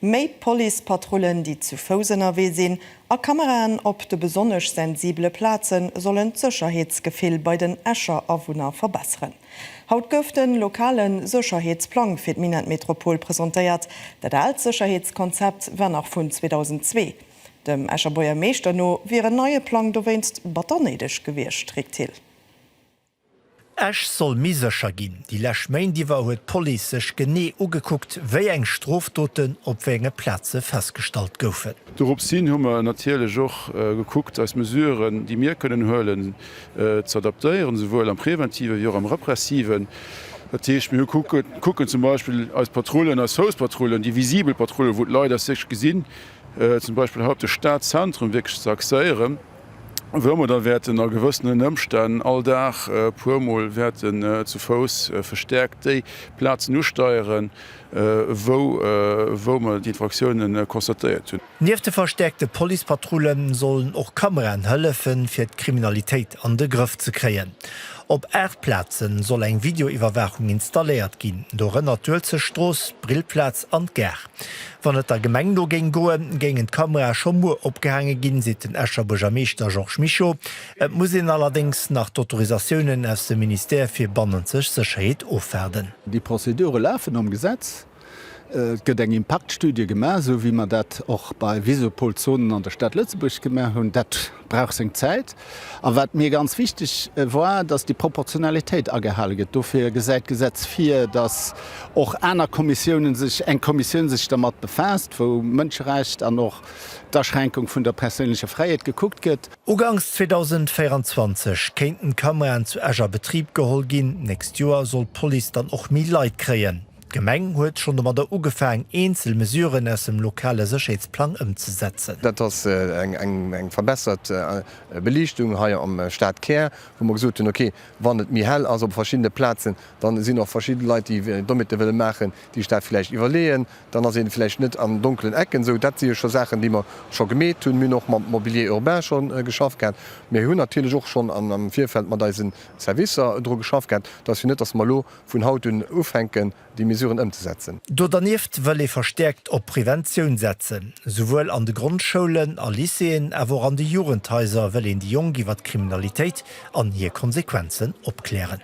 Méi Policepatrullen, déi zu Fouss ënnerwee sinn, a Kameraen op de besonnesch sensibele Plaze sollen d'Sécherheetsgefill bei den Escher Awunner verbesseren. Haut gouf de lokale Sécherheetsplang fir d'Minett-Metropol presentéiert. Dat aalt Sécherheetskonzept war nach vun 2002. Dem Escher Buergermeeschter no wier en neie Plang dowéinst batter néideg gewiescht, Rick Thill. Esch soll méi sécher ginn, Déi lescht Méint iwwer huet d'Police sech genee ugekuckt, wéi eng Strofdoten op wéi enge Plaze festgestallt goufen. Doropshin hu mer natierlech och gekuckt, eis Mesuren, déi mir kënnen huelen, ze adaptéieren, esouwuel am Präventive wéi och am Repressive. Dat heescht, mir kucken zum Beispill eis Patrullen, eis Fouspatrullen, déi visibel Patrullen, wou d'Leit eis wierklech gesinn, zum Beispill hei op de Stadzentrum wierklech ze axéieren. wou mer da wäerten a gewëssenen Ëmstänn all Dag e puer Mol wäerten zu Fouss verstäerkt déi Plazen usteieren, wou mer d'Infraktiounen constatéiert hunn. Nieft de verstäerkte Policepatrullen sollen och Kameraen hëllefen, fir d'Kriminalitéit an de Grëff ze kréien. Op aacht Plazen soll eng Videoiwwerwaachung installéiert ginn, dorënner d'Uelzechtstrooss, d'Brillplaz an d'Gare. Wann et der Gemeng no géing goen, géingen d'Kamerae scho muer opgehaange ginn, seet den Escher Buergermeeschter Georges Mischo. Et muss een allerdéngs nach d'Autorisatiounen aus dem Ministère fir bannenzeg Sécherheet ofwaarden. Déi Prozedure lafen nom Gesetz. Et gëtt eng Impaktstudie gemaach, esou wéi mer dat och bei Visopol-Zonen an der Stad Lëtzebuerg gemaach hunn. Dat. brauch seng Zäit. A wat mir ganz wichteg war, dass déi Proportionalitéit agehale gëtt. Dofir gesäit d'Gesetz vir, dass och aner Kommissiounen sech, eng Kommissioun sech dermat befaasst, wou Mënscherecht an och d'Aschränkung vun der perséinlecher Fräiheet gekuckt gëtt. Uganks 2024 kéinten d'Kameraen zu Esch a Betrib geholl ginn. D'nächst Joer soll d'Police dann och méi Leit kréien. D'Gemeng huet schonn domadder ugefaang, eenzel Mesuren aus dem lokale Sécherheetsplang ëmzesetzen. Dat ass eng verbessert Beliichtung hei am Stadkär, wou mer gesot hunn, okay, wann et méi hell ass op verschiddene Plazen, da sinn och verschidde Leit, déi Dommete wëlle maachen, déi sech dat vläicht iwwerleeën, dann ass ee vläicht net an donkelen Ecken esou. Dat si jo scho Saachen, déi mer scho gemeet hunn. Mir hunn och mam Mobilier urbain scho geschafft gehat. Mir hunn natierlech och schonn am Virfeld mat eise Servicer dru geschafft gehat, dass jo net, dass mer elo, vun haut un ufänken, déi Mesuren ëmzesetzen. Do dernieft wëll ee verstäerkt op Preventioun setzen. Souwuel an de Grondschoulen a Lycéeën, awer och an de Jugendhaiser wëll een déi Jonk iwwer d'Kriminalitéit an hir Konsequenzen opklären.